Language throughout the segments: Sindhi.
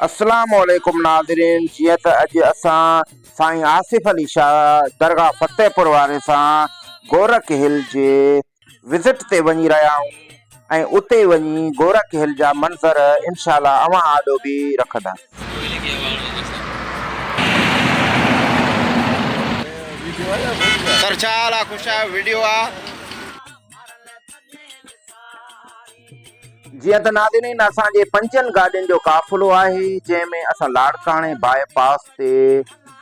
السلام عليڪم ناظرين جيئن ته اڄ اسان سائين آصف علي شاهه درگاهه فتح پور واري سان گورک هل جي وزٽ تي وڃي رهيا آهيون ۽ اتي وڃي گورک هل جا منظر انشاء الله اوهان آڏو به رکندا. سر ڇا حال آ خوش آهيو ويڊيو آ. جيئن ته ناظرين اسان جي پنجن گاڏين جو قافلو آهي جنهن ۾ اسان لاڙڪاڻي باء پاس تي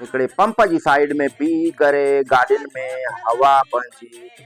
هڪڙي پمپ جي سائيڊ ۾ بيهي ڪري گاڏين ۾ هوا پنهنجي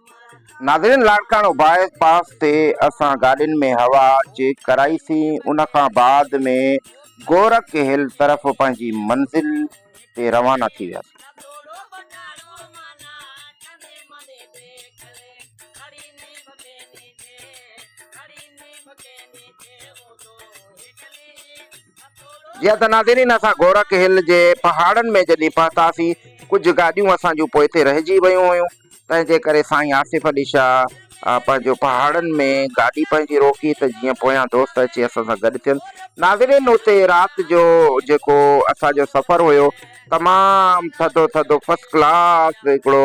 ناظرين لاڙڪاڻو باء پاس تي اسان گاڏين ۾ هوا چيڪ ڪرائي سين ان کان بعد ۾ گورک هل طرف پنهنجي منزل تي روانا ٿي وياسين. جيئن ته ناظرين اسان گورک هل جي پهاڙن ۾ جڏهن پهتاسين ڪجهه گاڏيون اسان جون پوئتي رهجي ويون هيون تنهن جي ڪري سائين آصف علي شاهه پنهنجو پهاڙن ۾ گاڏي پنهنجي روڪي ته جيئن پويان دوست اچي اسان سان گڏ ٿين ناظرين اتي رات جو جيڪو اسان جو سفر هيو تمام ٿڌو ٿڌو فرسٽ ڪلاس هڪڙو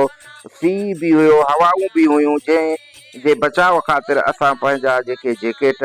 سي به هيو هوائون به هيون جنهن جي بچاء خاطر اسان پنهنجا جيڪي جيڪيٽ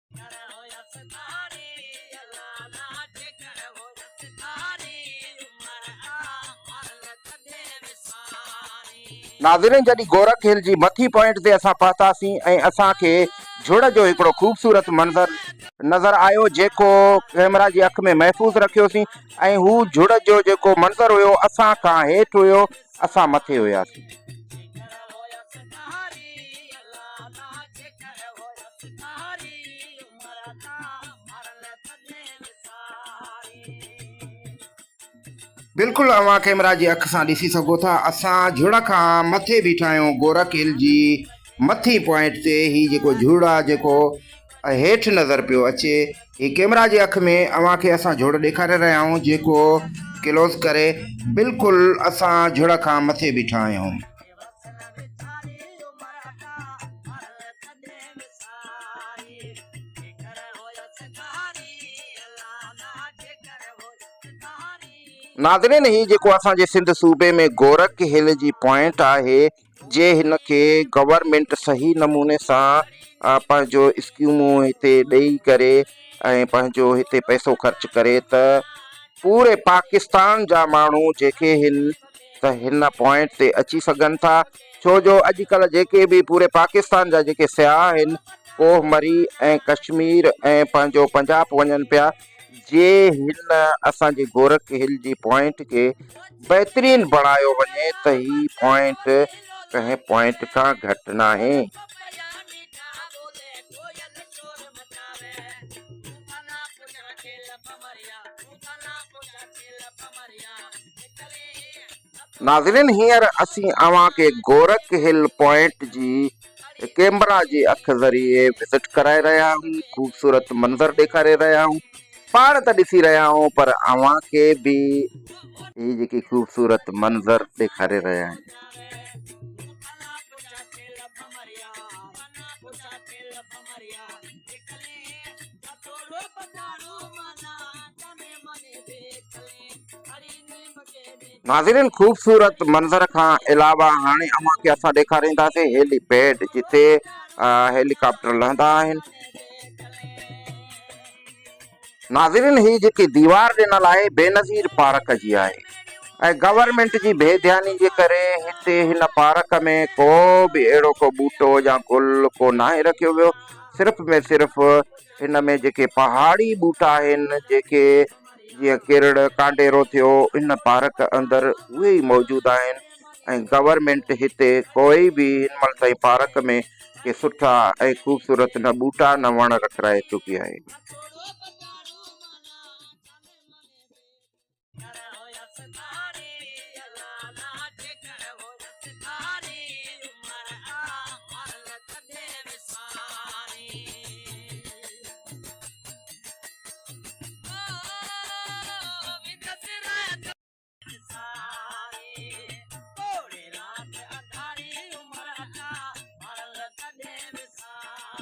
ناظرين جڏهن گورک هل جي مٿي پوائنٽ تي اسان پهتاسين ۽ اسان کي جھڙ جو هڪڙو خوبصورت منظر نظر آيو جيڪو ڪئميرا جي اک ۾ محفوظ رکيوسين ۽ هو جھڙ جو جيڪو منظر هيو اسان کان هيٺ هيو اسان مٿي هياسين. بلڪل اوهان ڪيمرا جي اک سان ڏسي سگهو ٿا اسان جھڙ کان مٿي بيٺا آهيون گورک هل جي مٿين پوائنٽ تي هي جيڪو جھڙ آهي جيڪو هيٺ نظر پيو اچي هي ڪيمرا جي اک ۾ اوهان کي اسان جھڙ ڏيکاري رهيا آهيون جيڪو ڪلوز ڪري بلڪل اسان جھڙ کان مٿي بيٺا آهيون. ناظرين هي جيڪو اسان جي سنڌ صوبي ۾ گورک هل جي پوائنٽ آهي جي هن کي گورنمنٽ صحيح نموني سان پنهنجو اسڪيمون هتي ڏيئي ڪري ۽ پنهنجو هتي پئسو خرچ ڪري ته پوري پاڪستان جا ماڻهو جيڪي هن ته هن پوائنٽ تي اچي سگهن ٿا ڇو جو اڄ ڪلهه جيڪي به پوري پاڪستان جا جيڪي سياح آهن ڪوهه مري ۽ ڪشمير ۽ پنهنجو پنجاب وڃن پيا جي هن اسان جي گورک هل جي پوائنٽ کي بهترين بڻايو وڃي ته هي پوائنٽ ڪنهن پوائنٽ کان گهٽ ناهي. ناظرين هينئر اسين اوهان کي گورک هل پوائنٽ جي ڪيمرا جي اک ذريعي وزٽ ڪرائي رهيا آهيون خوبصورت منظر ڏيکاري رهيا آهيون پاڻ ته ڏسي رهيا آهيون پر اوهان کي به هي جيڪي خوبصورت منظر ڏيکاري رهيا آهيون ناظرين خوبصورت منظر کان علاوه هاڻي اوهان کي اسان ڏيکارينداسين هيلي پيڊ جتي هيلي ڪاپٽر لهندا آهن ناظرين هي جيڪي ديوار ڏنل آهي بينظير پارڪ جي آهي ۽ گورنمينٽ جي بي ڌياني جي ڪري هتي هن پارڪ ۾ ڪو به اهڙو ڪو ٻوٽو يا گل ڪو ناهي رکيو ويو صرف ۾ صرف هن ۾ جيڪي پهاڙي ٻوٽا آهن جيڪي جيئن ڪيرڙ ڪانڊيرو ٿيو ان پارڪ اندر اهي ئي موجود آهن ۽ گورنمينٽ هتي ڪوئي به هن مهل تائين پارڪ ۾ ڪي سٺا ۽ خوبصورت نه ٻوٽا نه وڻ رکرائي چڪي آهي.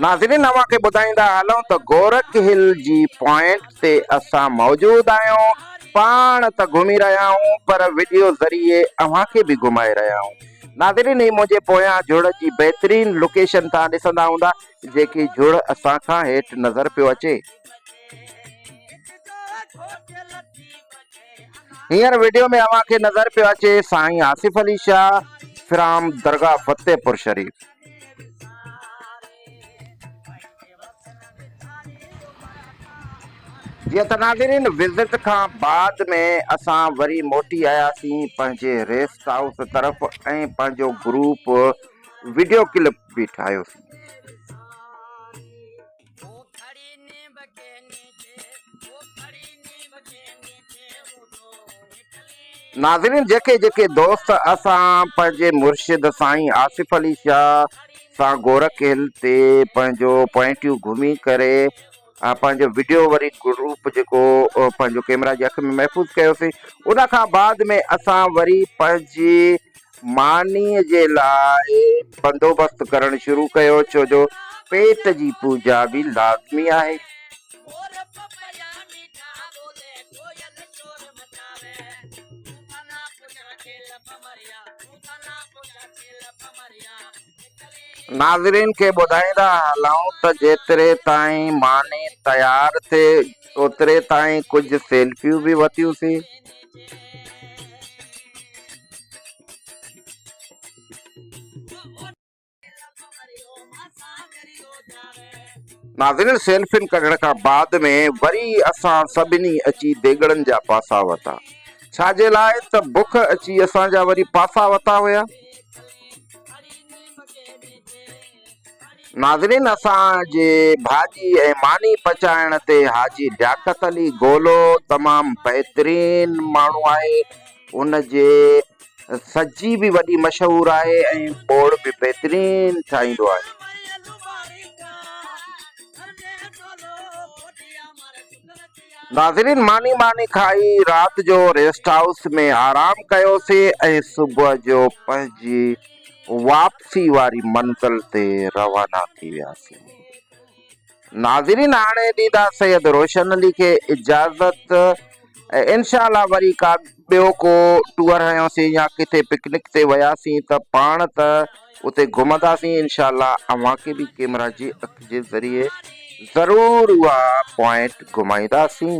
ناظرين اوهان کي ٻڌائيندا هلون ته گورک هل جي پوائنٽ تي اسان موجود آهيون پاڻ ته گهمي رهيا آهون پر وڊيو ذريعي اوهان کي به گهمائي رهيا آهون ناظرين هي منهنجي پويان جڙ جي بهترين لوڪيشن توهان ڏسندا هوندا جيڪي جھڙ اسان کان ھيٺ نظر پيو اچي. ھينئر وڊيو ۾ اوھان کي نظر پيو اچي سائين آصف علي شاھ فرام درگاھ فتح پور شريف. جيئن ته ناظرين وزٽ کان بعد ۾ اسان وري موٽي آياسين پنھنجي ريسٽ ھائوس طرف ۽ پنھنجو گروپ وڊيو ڪلپ به ٺاھيوسين. ناظرين جيڪي جيڪي دوست اسان پنهنجي مرشد سائين آصف علي شاهه سان گورک هل تي پنهنجو پوائنٽيون گهمي ڪري پنهنجو وڊيو وري گروپ جيڪو پنهنجو ڪيمرا جي اک ۾ محفوظ ڪيوسي ان کان بعد ۾ اسان وري پنهنجي مانيء جي لاء بندوبست ڪرڻ شروع ڪيو، ڇو جو پيٽ جي پوڄا به لازمي آهي. ناظرين کي ٻڌائيندا هلون ته جيتري تائين ماني تيار ٿئي اوتري تائين ڪجهه سيلفيون به وتيون سين. ناظرين سيلفين ڪڍڻ کان بعد ۾ وري اسان سڀني اچي ديڳڙن جا پاسا وتا. ڇا جي لاء ته بک اچي اسان جا وري پاسا وتا هيا. ناظرين اسان جي ڀاڄي ۽ ماني پچائڻ تي حاجي لياقت علي گولو تمام بهترين ماڻهو آهي ان جي سجي به وڏي مشهور آهي ۽ ٻوڙ به بهترين ٺاهيندو آهي ناظرين ماني ٻاني کائي رات جو ريسٽ هائوس ۾ آرام ڪيوسين ۽ صبح جو پنهنجي واپسي واري منزل تي روانا ٿي وياسين. ناظرين هاڻي ڏيندا سيد روشن علي کي اجازت ۽ انشاء الله وري ڪا ٻيو ڪو ٽوئر هنيوسين يا ڪٿي پڪنڪ تي وياسين ته پاڻ ته اتي گهمنداسين انشاء الله اوهان کي به ڪيمرا جي اک جي ذريعي ضرور اها پوائنٽ گهمائينداسين.